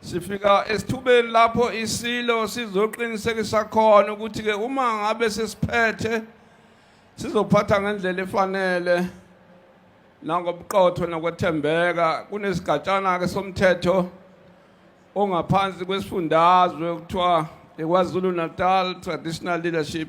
sifika esithubeni lapho isilo sizoqinisekisa khona ukuthi ke uma ngabe sesiphethe sizophatha ngendlela efanele nangobuqotho nokwethembeka kunesigatshana ke somthetho ongaphansi kwesifundazwe kuthiwa iKwaZulu Natal Traditional Leadership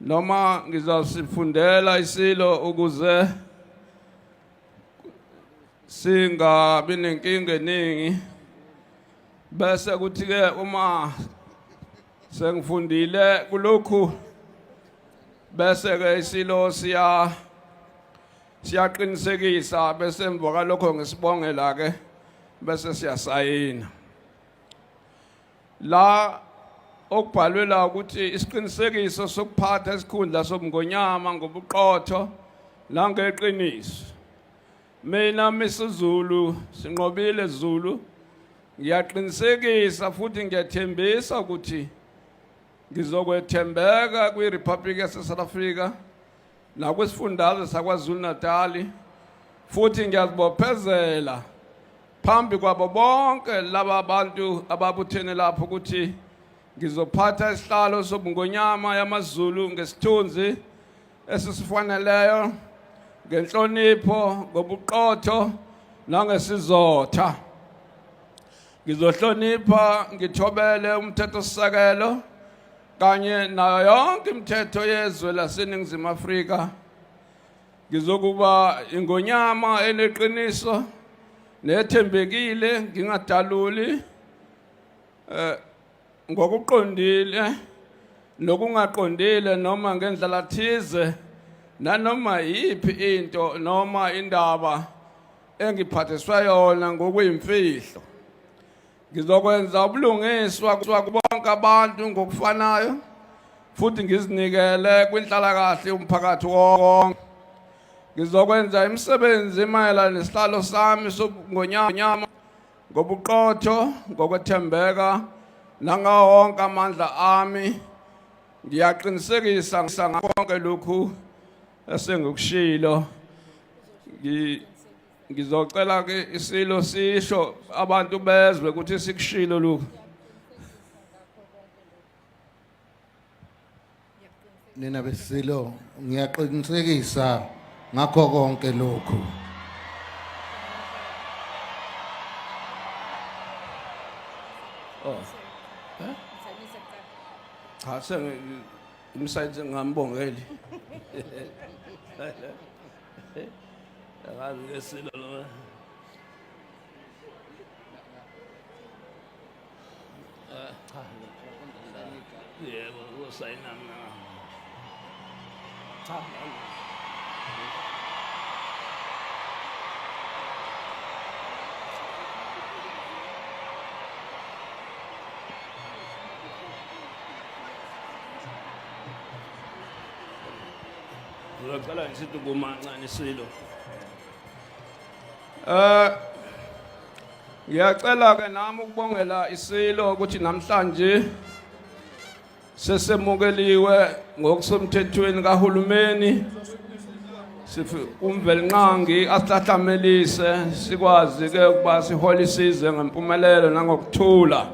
noma ngizasifundela isilo ukuze singabi nenkinga eningi bese kuthi ke uma sengifundile kulokhu bese ke isilo siya siyaqinisekisa bese emva kwalokho ngisibongela ke bese siyasayina la okubhalwe la ukuthi isiqinisekiso sokuphatha isikhundla sobungonyama ngobuqotho nangeqiniso mina misizulu sinqobile zulu ngiyaqinisekisa futhi ngiyathembisa ukuthi ngizokwethembeka kwiRepublic yaseSouth Africa nakwisiFundazwe saKwaZulu-Natali futhi ngiyazibophezela phambi kwabo bonke laba bantu ababuthene lapho ukuthi ngizophatha isihlalo sobungonyama yamaZulu ngesithunzi esisifaneleyo ngenhlonipho ngobuqotho nangesizotha ngizohlonipha ngithobele umthethosisekelo kanye nayo yonke imithetho yezwe laseNingizimu Afrika ngizokuba ingonyama eneqiniso nethembekile ngingadaluli eh ngokuqondile nokungaqondile noma ngendlela thize nanoma yiphi into noma indaba engiphathiswa yona ngokuyimfihlo Ngizokwenza ubulungiswa kubonke abantu ngokufanayo futhi ngizinikele kwinhlalakahle yomphakathi wonke. Ngizokwenza imisebenzi mayelana nesihlalo sami sobungonyama ngobuqotho, ngokwethembeka nangawo wonke amandla ami. Ngiyaqinisekisa ngakho konke lokhu esengikushilo. ngizocela ke isilo sisho abantu bezwe ukuthi sikushilo lokhu nina besilo ngiyaqinisekisa ngakho konke lokhu oh eh? cha sengimsayithe ngambongeli Angazi ke silo lo. Ah, cha. Yebo, usayina mina. Cha. Ngizocela ngisithi kumancane silo. Eh Ngiyacela ke nami ukubongela isilo ukuthi namhlanje sesemukeliwe ngokusemthethweni kahulumeni sifi umvelinqangi asihlahlamelise sikwazi ke ukuba sihole isize ngempumelelo nangokuthula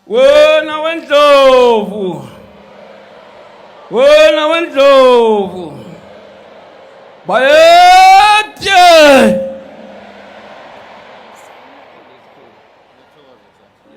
Wena wendlovu. Wena wendlovu. Bayethe.